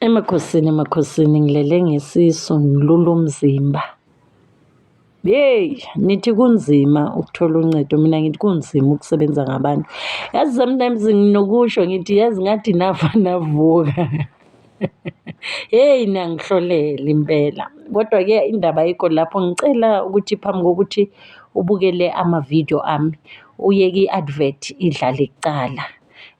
Emakhosini emakhosini ngilele ngesisu ngilula umzimba. Yeyi nithi kunzima ukuthola uncedo mina ngithi kunzima ukusebenza ngabantu. Yazi sometimes nginokusho ngithi yazi ngathi nafa navuka. Heyi niyangihlolela impela. Kodwa-ke indaba ayikho lapho ngicela ukuthi phambi kokuthi ubukele amavidiyo ami uye ki-advert idlale kucala.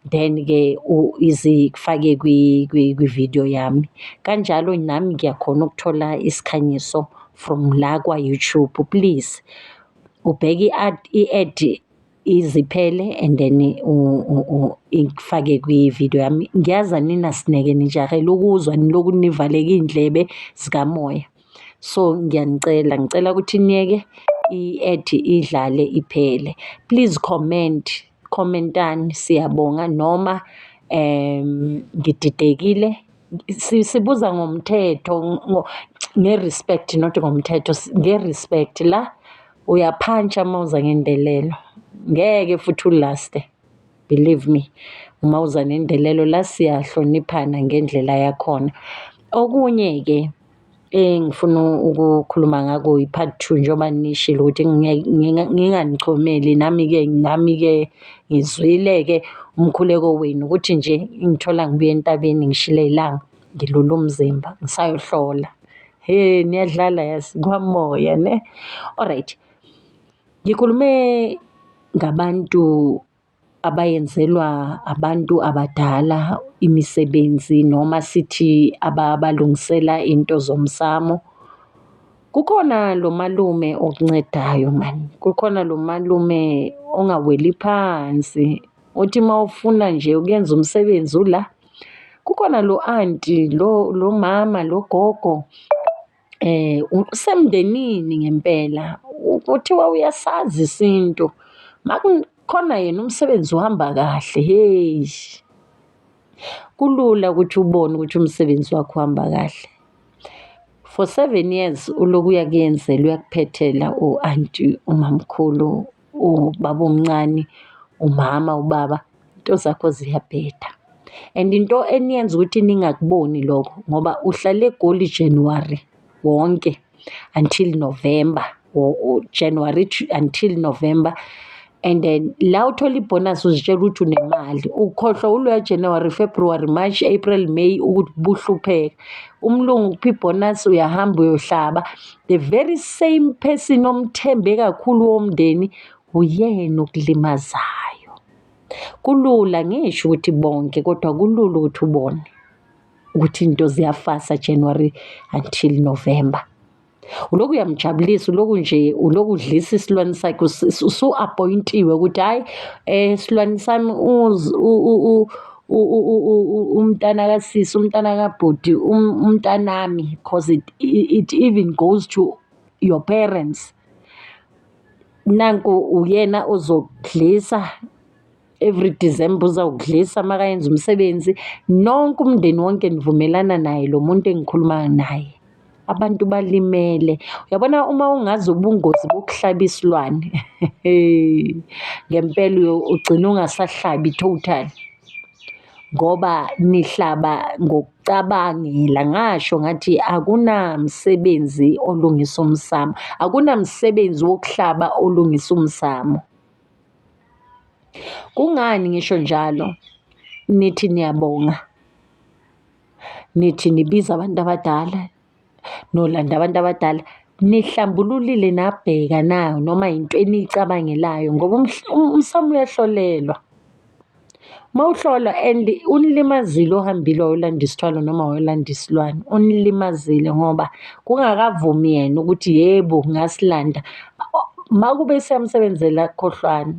then ke izifake kwi-video yami kanjalo nami ngiyakhona ukuthola isikhanyiso from la kwa-YouTube please ubheke i-ad iziphele and then ifake kwi-video yami ngiyazi aninasineke nijahele ukuzwa niloku nivaleke iy'ndlebe zikamoya so ngiyanicela ngicela ukuthi niyeke i-ad idlale iphele please comment khomentani siyabonga noma ngididekile sibuza ngomthetho nge-respect not ngomthetho nge-respect la uyaphantsa uma uza ngendelelo ngeke futhi ulaste believe me uma uza nendelelo la siyahloniphana ngendlela yakhona. Okunye-ke. Engifuna ukukhuluma ngako i-part two njengoba nishilo ukuthi nginganichomeli nami-ke nami-ke ngizwile-ke umkhuleko wenu ukuthi nje ingithola ngibuya entabeni ngishile ilanga ngilule umzimba ngisayohlola. He niyadlala yazi kwamoya ne. Alright, ngikhulume ngabantu abayenzelwa abantu abadala imisebenzi noma sithi ababalungisela into zomsamo. Kukhona lo malume okuncedayo mani, kukhona lo malume ongaweli phansi othi uma ufuna nje ukuyenza umsebenzi ula. Kukhona lo anti, lo mama, lo gogo. usemndenini ngempela kuthiwa uyasazi isintu makukhona yena umsebenzi uhamba kahle hheyi kulula ukuthi ubone ukuthi umsebenzi wakho uhamba kahle. For seven years ulokhu uyakuyenzelwa uyakuphethela u-anti umamkhulu. ubaba omncane, umama, ubaba, iy'nto zakho ziyabheda and into eniyenza ukuthi ningakuboni lokho ngoba uhlale eGoli Januwari wonke until Novemba or Januwari until Novemba and then la othola ibhonasi uzitshela ukuthi unemali, ukhohlwa wuloya Januwari, Februwari, Mashi, Ephreli, Meyi ukuthi ubuhlupheka. Umlungu ukupha ibhonasi uyahamba uyohlaba. the very same person omthembe kakhulu womndeni uyena okulimazayo. Kulula ngisho ukuthi bonke kodwa kulula ukuthi ubone ukuthi into ziyafasa January until November. Uloku uyamjabulisa uloku nje uloku udlisa isilwane sakhe usu appointiwe ukuthi hayi eh silwane sami umntana kasisi umntana kabhuti um, umntanami because it even goes to your parents nanku uyena ozokudlisa every December uzawudlisa makayenza umsebenzi nonke umndeni wonke nivumelana naye lo muntu engikhuluma naye abantu balimele uyabona uma ungazi ubungozi bokuhlaba isilwane ngempela ugcina ungasahlabi total ngoba nihlaba cabangela ngasho ngathi akunamsebenzi olungisa umsamo akunamsebenzi wokuhlaba olungisa umsamo kungani ngisho njalo nithi niyabonga nithi nibiza abantu abadala nolanda abantu abadala nihlambululile nabheka na noma yinto eniyicabangelayo ngoba umsamo uyahlolelwa. Uma uhlolwa and unilimazile ohambile wayolanda isithwalo noma wayolanda isilwane, unilimazile ngoba kungakavumi yena ukuthi yebo ngasilanda. Uma kube siyamsebenzela khohlwani,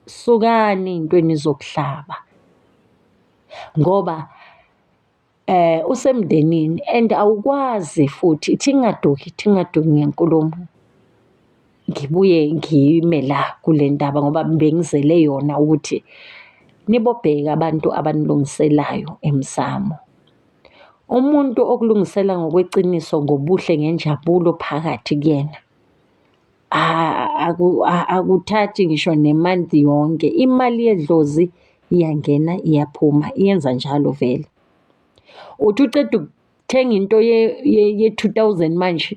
sukani ey'ntweni zokuhlaba ngoba. eh usemndenini and awukwazi futhi thingaduki thingaduki ngenkulumo ngibuye ngime la kule ndaba ngoba bengizele yona ukuthi nibobheka abantu abanilungiselayo emsamo umuntu okulungisela ngokweqiniso ngobuhle ngenjabulo phakathi kuyena akuthathi ngisho ne-month yonke. Imali yedlozi iyangena iyaphuma, iyenza njalo vele. Uthi uceda ukuthenga into ye-two thousand manje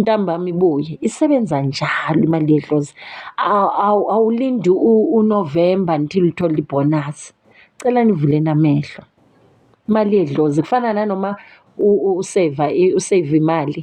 ntambama ibuye, isebenza njalo imali yedlozi. Awulindi uNovemba until uthole ibhonasi. Cela nivuleni amehlo, imali yedlozi kufana nanoma useyiva, useyiva imali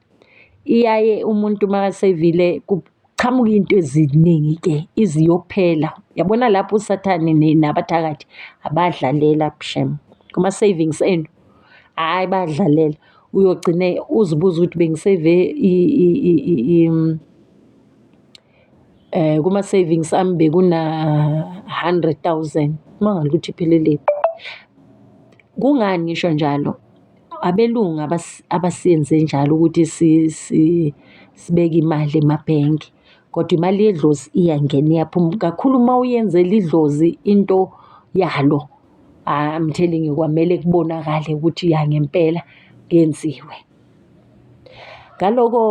Iyaye umuntu makasevile kuqhamuka iy'nto eziningi-ke iziyophela, yabona lapho usathane nabathakathi abadlalela shem kuma-savings enu, hhayi bayadlalela. Uyogcine uzibuze ukuthi bengiseve . Kuma-savings ami bekuna-hundred thousand, kumangali ukuthi ipheleleni. Kungani ngisho njalo? Abelungu abasenze njalo ukuthi sibeke imali emabhenki kodwa imali yedlozi iyangena iyaphuma, kakhulu uma uyenzela idlozi into yalo, I'm telling you kwamele kubonakale ukuthi ya ngempela yenziwe. Ngaloko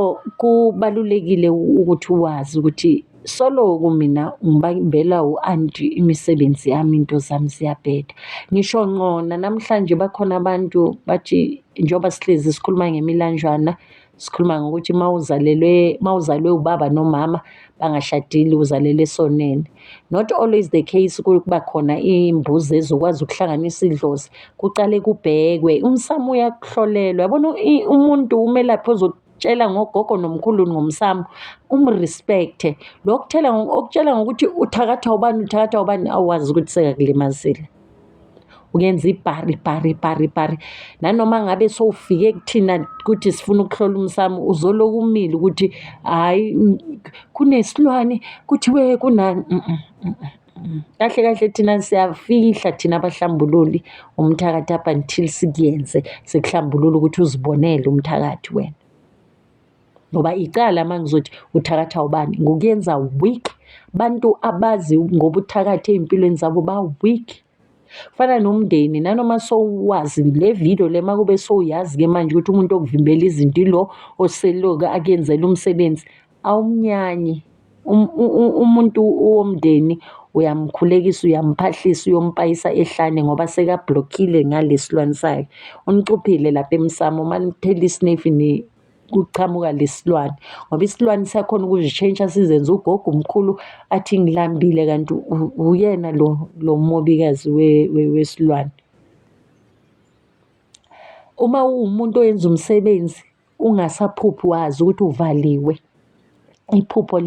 kubalulekile ukuthi wazi ukuthi soloku mina ngibambela u-anti imisebenzi yami into zami ziyabheda ngisho ngqona namhlanje bakhona abantu bathi njengoba sihlezi sikhuluma ngemilanjwana sikhuluma ngokuthi mawuzalelwe mawuzalwe ubaba nomama bangashadile uzalele esoneni not always the case kuba khona imbuzi ezokwazi ukuhlanganisa idlozi kuqale kubhekwe umsamo uyakuhlolelwa yabona umuntu umelaphi ozokutshela ngogogo nomkhulu ngomsamo umrespecte lokutshela ngokutshela ngokuthi uthakathwa ubani uthakathwa ubani awazi ukuthi sekakulimazile uyenza ibhari ibhari ibhari ibhari nanoma ngabe sowufike kuthina kuthi sifuna ukuhlola umsamo uzoloku umile ukuthi hhayi kunesilwane kuthiwe kunani mm, mm, mm, kahle kahle thina siyafihla thina abahlambululi umthakathi up until sikuyenze sikuhlambulule ukuthi uzibonele umthakathi wena ngoba icala uma ngizothi uthakatha ubani ngokuyenza weak bantu abazi ngobuthakathi ey'mpilweni zabo ba-weak kufana nomndeni nanoma sowuwazi le video le uma kube sowuyazi-ke manje ukuthi umuntu okuvimbela izinto ilo oseloke akuyenzela umsebenzi awumnyanyi um, umuntu womndeni uyamkhulekisa uyamphahlisa uyompayisa ehlane ngoba sekablockile ngalesilwane sakhe unicuphile lapha emsamo uma nithela isinefi kuqhamuka lesilwane ngoba isilwane siyakhona ukuzishintsha sizenze ugogo umkhulu athi ngilambile kanti uyena lo lo mobikazi wesilwane. Uma uwumuntu owenza umsebenzi ungasaphuphi wazi ukuthi uvaliwe iphupho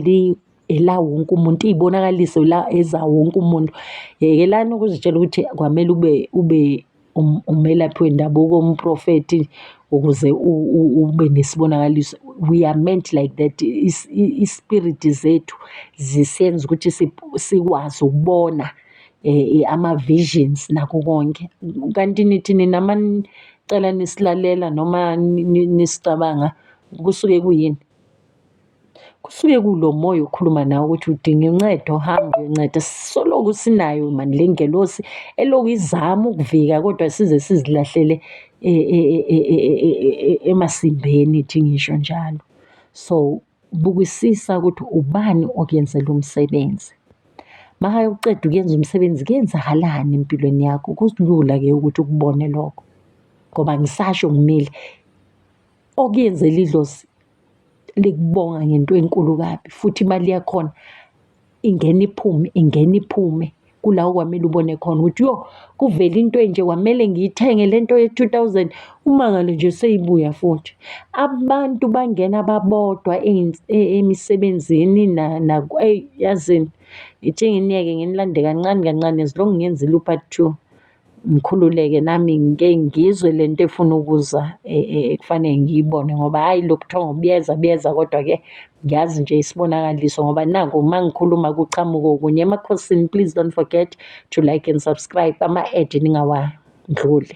ela wonke umuntu iyibonakaliso la eza wonke umuntu. Yekelani ukuzitshela ukuthi kwamele ube ube. umelaphi wendabuko umprofethi ukuze ube nesibonakaliso, we are meant like that, i-spirit zethu zisenza ukuthi sikwazi ukubona ama-visions nakho konke. Kanti nithi nina uma nicela nisilalela noma nisicabanga kusuke kuyini? kusuke kulomoya okhuluma nawe ukuthi udinga uncedo hamba uyonceda sisoloku sinayo mani le ngelosi eloku izama ukuvika kodwa size sizilahlele e, e, e, emasimbeni thi ngisho njalo so bukisisa ukuthi ubani okuyenzela umsebenzi maka uqeda ukuyenza umsebenzi kuyenzakalani empilweni yakho kulula ke ukuthi ukubone lokho ngoba ngisasho ngimile okuyenzela idlozi likubonga ngento enkulu kabi futhi imali yakhona ingena iphume ingena iphume kula okwamele ubone khona ukuthi yo kuvele into enje kwamele ngiyithenge le nto ye-two thousand umangalo nje seyibuya futhi. Abantu bangena babodwa e, emisebenzini eyi yazini ngithe ngingeke ngilande kancane kancane as long ngenzile u-part two. Ngikhululeke nami ngike ngizwe le nto efuna ukuza ekufanele ngiyibone ngoba hhayi lokhu kuthiwa ngokuyeza kuyeza kodwa-ke ngiyazi nje isibonakaliso ngoba naku uma ngikhuluma kuqhamuke okunye. Emakhosini please don't forget to like and subscribe, ama-ad ningawandluli.